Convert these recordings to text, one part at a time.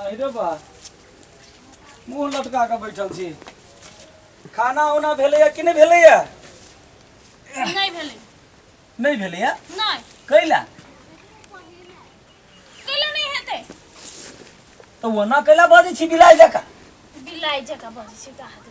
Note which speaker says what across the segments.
Speaker 1: अरे बा मुंह लटका के बैठल छी खाना उना भेलैया कि नहि भेलैया
Speaker 2: नहीं भेले नहि भेलैया
Speaker 1: नहीं कैला
Speaker 2: कैला नहीं हेते
Speaker 1: तऽ ओना कैला बजै छी बिलाइ जकाँ बिलाई जका
Speaker 2: बजे छी कहा दे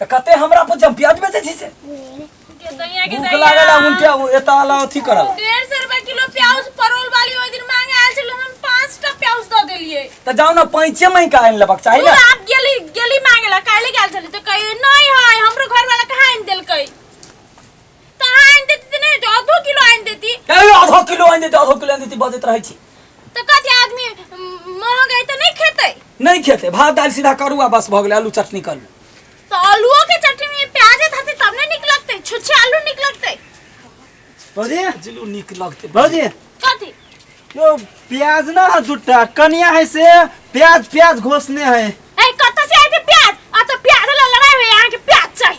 Speaker 2: त कते
Speaker 1: हमरा पर जब प्याज बेचे छी से
Speaker 2: के दैया के भूख लागल आ उनके दैया उ-
Speaker 1: एता वाला अथी करल डेढ़ सौ रुपए किलो
Speaker 2: प्याज परवल वाली ओहि दिन मांगे आयल छल हम पाँच टा प्याज दऽ देलियै त जाओ ना पैंचे
Speaker 1: में का आइन लेबाक चाही तू ना आप गेली गेली
Speaker 2: मांगे ला काल्हि गेल छली तऽ कही नहि है हमरो घर वाला कहाँ आनि देलकै त अहाँ आनि देती त नहि होइते, आधो किलो आनि देती ए आधा किलो आनि देती
Speaker 1: आधा किलो आनि देती बजैत रहै छी त कथी आदमी
Speaker 2: म, महग है त नहि खेतै नहि खेते भात
Speaker 1: दालि सीधा करू आ बस भऽ गेलै आलू चटनी करू त आलूओ के
Speaker 2: चटनी में प्याज धरती तब ने नीक लगतै छुच्छे आलू नीक लगतै भौजी
Speaker 3: जिलू नीक
Speaker 1: लगते भौजी
Speaker 3: कथी
Speaker 2: यो
Speaker 3: प्याज ना है जुट्टा कनिया है से प्याज प्याज घोसने है ए कतऽ से आइते
Speaker 2: प्याज आ त प्याज ला लड़ाई होइए अहाँके प्याज चाही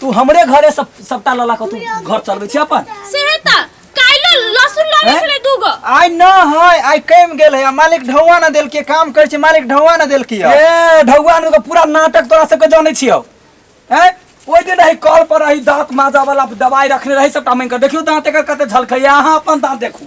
Speaker 1: तू हमरे घरे सब सप्ताह लला के तू घर चलबै छी अपन से है ता
Speaker 2: काइलो लहसुन लगे हैं? छले दूगो आइ न है
Speaker 3: आइ कम गेल है आ मालिक ढौआ न देल के काम करे छै मालिक ढौआ न देल के ए ढौआन के
Speaker 1: पूरा नाटक तोरा सबके जानै छियौ ए ओइ दिन रही कॉल पर रही दांत माजा वाला दवाई रखने रही सबटा मांगि के देखियो दांत एकर कते झलकैया अहाँ अपन दांत देखू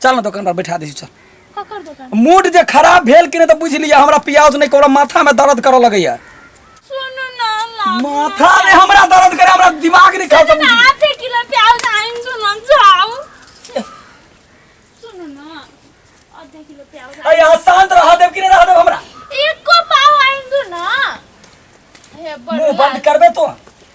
Speaker 1: चल ना दुकान पर बैठा दै छी चल ककर दोकान
Speaker 2: मूड जे खराब भेल
Speaker 1: कि नहि तऽ बुझि लिअ हमरा प्याज नहि ककरो माथामे दर्द करऽ लगैया सुन
Speaker 2: ना ला माथा में हमरा
Speaker 1: दर्द करे हमरा दिमाग नहीं खाता ना आधे किलो प्याज
Speaker 2: आइन सुन ना जाओ सुन ना आधे किलो प्याज अरे यहाँ शांत रह
Speaker 1: देव कि नहीं रह देव हमरा एको पाव
Speaker 2: आइन दो ना हे मुंह बंद बड़ करबे तो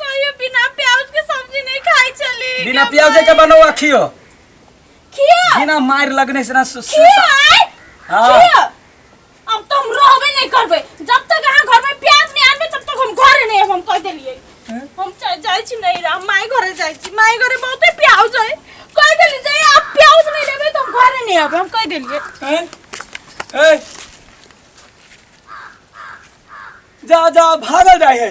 Speaker 1: कहियो
Speaker 2: बिना प्याज के सब्जी नहीं खाई चली बिना प्याज के
Speaker 1: बनवा खियो खिया
Speaker 2: बिना मार लगने
Speaker 1: से ना सु- सु- खिया आय
Speaker 2: हाँ। खिया अब तो हम रहबे नहीं करबे जब तक अहाँ घर में प्याज नहीं आनबे तब तक हम घरे नहीं आएब, हम कह देलिए हम जा- जाय छी नहीं रह माय घरे जाय छी माय घरे बहुते प्याज है कह देली जे आप प्याज नहीं लेबे तो हम घरे नहीं आएब, हम कह देलिए
Speaker 1: हैं? हैं? जा जा भागल जाए है